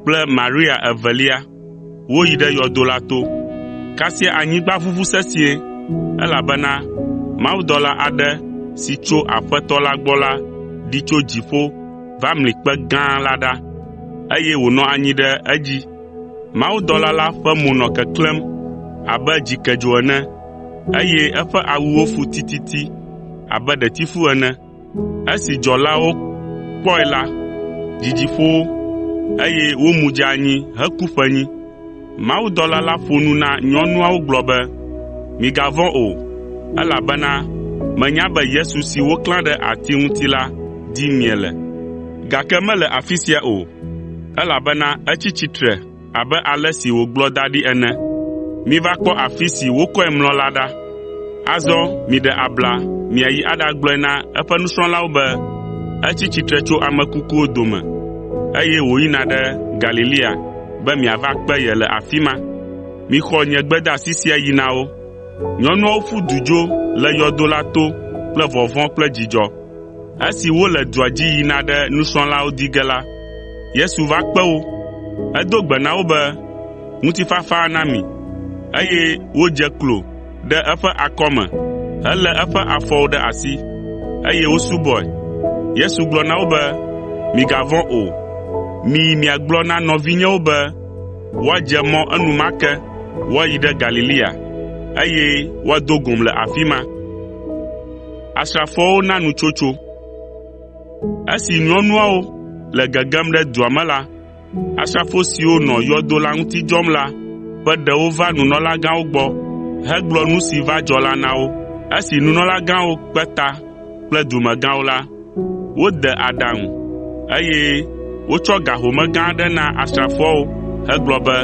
kple Maria evelia woyi ɖe yɔdo la to. Kasia anyigba ʋuʋu sesĩe, elabena mawudɔla aɖe si tso Aƒetɔ la gbɔ la ɖi tso dziƒo va mli kpe gã la ɖa, eye wònɔ anyi ɖe edzi. Mawudɔla la ƒe mo nɔ keklẽm abe dzikedzo ene, eye eƒe awuwo fu tititi abe ɖetifu ene. Esi dzɔlawo kpɔe la, dzidzi ƒo wo, eye womu dze anyi heku ƒe nyi. Mawudɔla la ƒo nu na nyɔnuawo gblɔ be, “Migavɔ̃ o, elabena menya be Yesu si woklã ɖe ati ŋuti la dim miele. Gake mele afi sia o, elabena etsi tsitre abe ale si wògblɔ da ɖi ene. Miva kpɔ afi si wokɔe mlɔ la ɖa. Azɔ miɖe abla miayi aɖagblɔe na eƒe nusrɔ̃lawo be etsi tsitre tso ame kukuwo dome, eye wòyina ɖe Galilea be miava kpe ye le afi ma. Mixɔ nye gbedeasi sia yi na wo.” Nyɔnuawo ƒu du dzo le yɔdo la to kple vɔvɔ̃ kple dzidzɔ. Esi wole dua dzi yina ɖe nusrɔ̃lawo di ge la, Yesu va kpe wo. Edo gbe na wo be, “Ŋutifafa na mi.” Eye wodze klo ɖe eƒe akɔme helé eƒe afɔwo ɖe asi, eye wosubɔe. Yesu gblɔ na wo be, “Migavɔ̃ o. Miyi miagblɔ na nɔvinyewo be woadze mɔ enumake woayi ɖe Galilea, eye woado gom le afi ma.” Asrafoawo na nu tsotso. Esi nyɔnuawo le gegem ɖe dua me la, asrafo siwo nɔ yɔdo la ŋuti dzɔm la ƒe ɖewo va nunɔlagãwo gbɔ hegblɔ nu si va dzɔ la na wo. Esi nunɔlagãwo kpe ta kple dumegãwo la, wode aɖaŋu, eye wotsɔ ga home gã aɖe na asrafoawo hegblɔ be,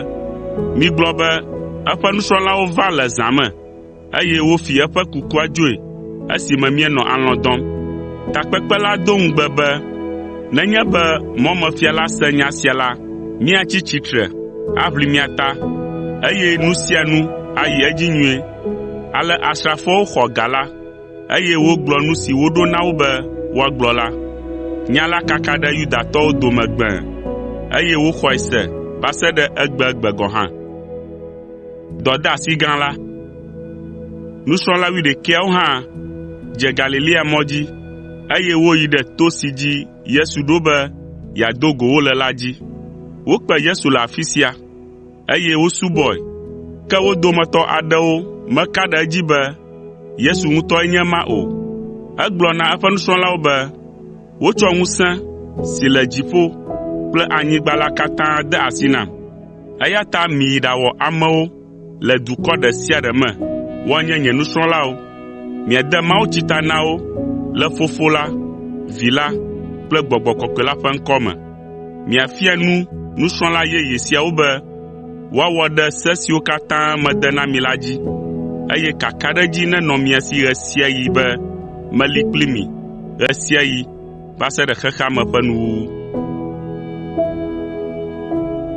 “Migblɔ be eƒe nusrɔ̃lawo va le zã me, eye wofi eƒe kukua dzoe esime míenɔ alɔ̃ dɔm. Takpekpe la do ŋugbe be nenye be mɔmefia la se nya sia la, míatsi tsitre aʋli mía ta, eye nu sia nu ayi edzi nyuie. Ale asrafoawo xɔ ga la, eye wogblɔ nu si woɖo na wo be woagblɔ la. Nya la kaka ɖe Yudatɔwo dome gbẽe, eye woxɔe se va se ɖe egbegbe gɔ̃ hã. Dɔdeasi gã la. Nusrɔ̃la wuiɖekɛawo hã dze Galilea mɔ dzi, eye woyi ɖe to si dzi Yesu ɖo be yeado go wo le la dzi. Wokpe Yesu le afi sia, eye wosubɔe, ke wo dometɔ aɖewo meka ɖe edzi be Yesu ŋutɔe nye ema o. Egblɔ na eƒe nusrɔ̃lawo be, “Wotsɔ ŋusẽ si le dziƒo kple anyigba la katã de asi nam. Eya ta miyi ɖawɔ amewo le dukɔ ɖe sia ɖe me woanye nye nusrɔ̃lawo. Miade mawutsi ta na wo le Fofo la, Vi la kple Gbɔgbɔ Kɔkɔe la ƒe ŋkɔ me. Miafia nu nusrɔ̃la yeye siawo be woawɔ ɖe se siwo katã mede na mi la dzi, eye kakaɖedzi nenɔ mia si ɣe sia ɣi be meli kpli mi ɣe sia ɣi va se ɖe xexea me ƒe nuwuwu.